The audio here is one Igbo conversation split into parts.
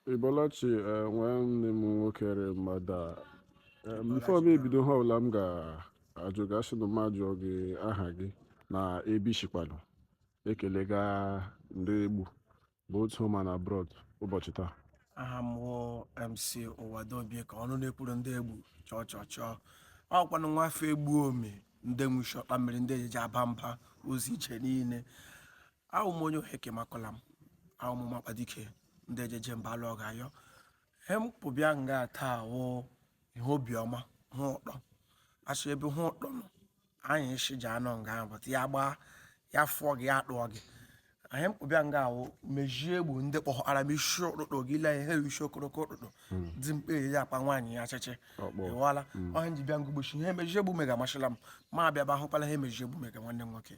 Ibolachi eh, nwanne m nwoke rị mmadụ a Eh, before m ebido ihe ọbụla m ga-ajụ gị asị na m ajụọ gị aha gị na ebe i shikwanụ ekelega ndị egbu both home and abroad ụbọchị taa aha m wụ mc ụwadobie ka ọnụ na-ekwuru ndị egbu chọọ chọọ chọọ ọ wụkwanụ nwa afọ egbu ome ndị nwuchi ọkpa mmiri ndị ejeje aba mba ụzọ iche niile awụ m onye oheke makọla m awụ m makpa dike ndị ejeje mba alụ ọga ayọ he m kpụbịa nga taa wụ ihe obiọma hụ ụtọ asị ebe hụ ụtọ nọ anyị isi ji anọ nga ahụ bụta ya gbaa ya fụọ gị ya akpụọ gị anyị kpụbịa nga ahụ mezie egbu ndị kpọhara m isi ụtụtụ gị lee ihe isi okoroko ụtụtụ dị mkpa eji akpa nwaanyị ya achịchị Ọkpọ. ịwala ọha nji bịa ngụgbochi ihe mezie egbu mega amasịla m ma abịaba ahụkwala ihe mezie egbu mega nwanne m nwoke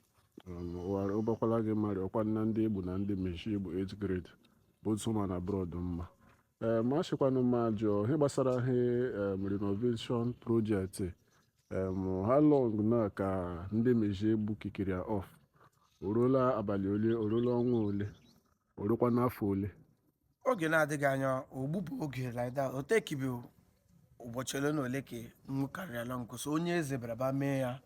ụbakwala gị mmadụ ọkwa na ndị egbu na ndị mezie egbu 8 grade both home and abroad mma ee ma ashịkwanụ m ajụọ ihe gbasara ihe em, renovation project em, how long na ka ndị mezie egbu kikiri ya off o ruola abalị ole o ruola ọnwa ole o ruokwana afọ ole oge na-adịghị anya ogbupụ oge like that o tekibi ụbọchị ole na ole ka nwu karịrịala nkụ so onye eze bịara ba mee ya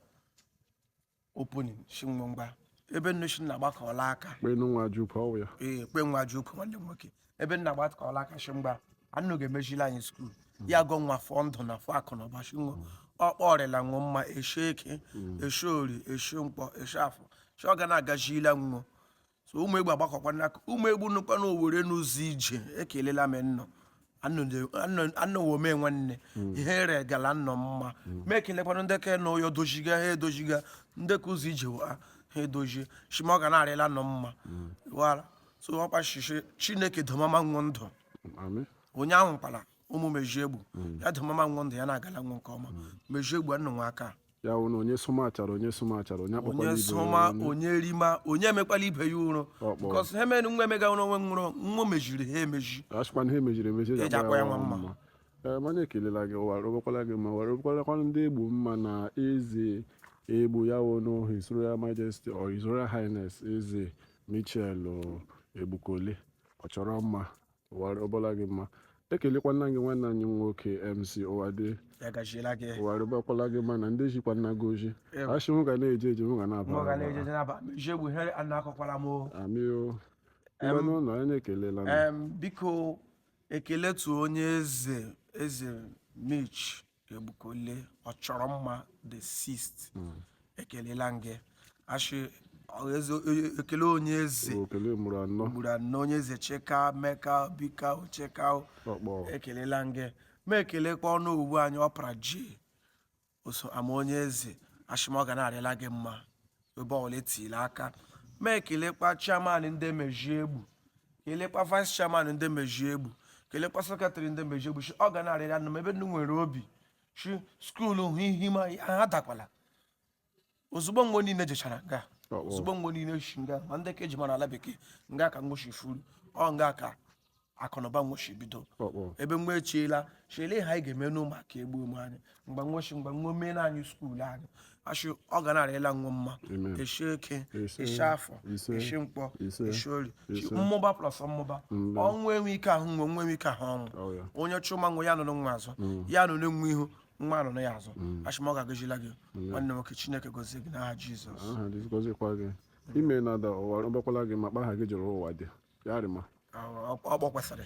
opening sị nwọ ngwa ebe nnụ sị na agbakọọla aka kpenu nwa ji ukwu ọwụ ya ee kpe nwa ji ụka nwanne m nwoke ebe nnụ agbakọọla aka sị ngwa nnụ ga-emezili anyị school ya gọọ nwọ ọfọ ndụ na ọfọ akụ na ụba sị nwọ ọkpọ ọ rịla nwọ mma eshi eke eshi orie eshi nkwọ eshi afọ sị ọ ga na-agazila nwọ so ụmụ egbu agbakọkwana aka ụmụ egbu nọkwa na owere n'ụzọ ije ekelela m nnụ anọwome nwanne ihe ere gala nnụ mma ma ekelekwana ndị ka na ụyọ doziga ha edoziga ndị ka ụzọ ije ha ha edozie shị ma ọ ga na-arịla nnụ mma wara so ọkwa shishi chineke domama nwọ ndụ Amị. onye wụkwala ụmụ mezie egbu ya domama nwọ ndụ ya na-agala nwọ nke ọma mezie egbu nnụ nwa aka ya wụ na onye sụma achara onye sụma achara onye akpọkwala onye ibe sụma ya ọnụ. onye rima onye emekwala ibe ya ụrụ Ọkpọ. because ihe mere nwọ emega ụrụ onwe nwụrụ nwọ meziri ha emezi asịkwanụ ihe meziri emezi eji Eji akpọ ya nwa mma. mma. Ee, mana ekelela gị ụwa rụbakwala gị mma ụwa rụbakwalakwana ndị egbu mma na eze egbu ya wụ na His Royal Majesty or His Royal Highness eze Mitchell Egbukole Ọchọrọnma ụwa rụbala gị mma ekelekwana gị nwanne anyị nwoke mc ụwadị ya gaziela gị ụwa rụbakwala gị mma na ndị jikwa nna gị oji Ew. ashị nwọ ga na-eje eje nwọ ga na-aba mụ ga na-ejeje n'aba mezie egbu ihe a na-akọkwara m o. amio Em, mgbe n'ụlọ anyị ekelela m Em, biko ekele tu onye eze eze mich egbukole ọchọrọnma the sixth ekelela m gị a shị ekele onye eze okele mụrụ anọ gburu anọ onye eze cheka meka bika cheka ọkpọ ekelela m gị ma ekelekwa onowu anyị ọpara ji oso ama onye eze a shị m ọ ga na-arịla gị mma ebe ọbụla etiri aka ma ekelekwa chairman ndị mezie egbu kelekwa vice chairman ndị mezie egbu kelekwa secretary ndị mezie egbu shị ọ ga na-arịrị ụnụ mma ebe ụnụ nwere obi shị skuulu hụ ihe ma ha dakwala ozugbo mgbe niile jechara nga ozugbo mgbe niile shi nga ma ndị ka eji mara ala bekee nga ka nwo shi fụrụ ọ nga ka akụnụba nwo shi bido Ọkpọ. ebe nwo echiela shị lee ihe anyị ga-eme n'ụmụ aka egbu ụmụ anyị mgbe nwo shi mgbe nwo mee na anyị skuulu anyị a shị ọ ga na-arịla nwo mma Amen. eshi eke Ise. eshi afọ Ise. eshi nkwọ Ise. eshi orie Ise. mmụba plus mmụba Mmụba. ọnwụ enwe ike ahụ nwo nwo enwe ike ahụ ọnwụ Ọ ya. onye chụma nwo ya nọrọ nwo azụ ya nọrọ nwo ihu nwo nọrọ ya azụ a shị m ọ ga-agazila gị nwanne nwoke chineke gozie gị n'aha jizọs aha dịzikọzikwa gị ime na ada ụwa ọgbakwala gị ma kpa aha gị juru ụwa dị ya rị mma Ọ- ọ- ọ gbakwasịrị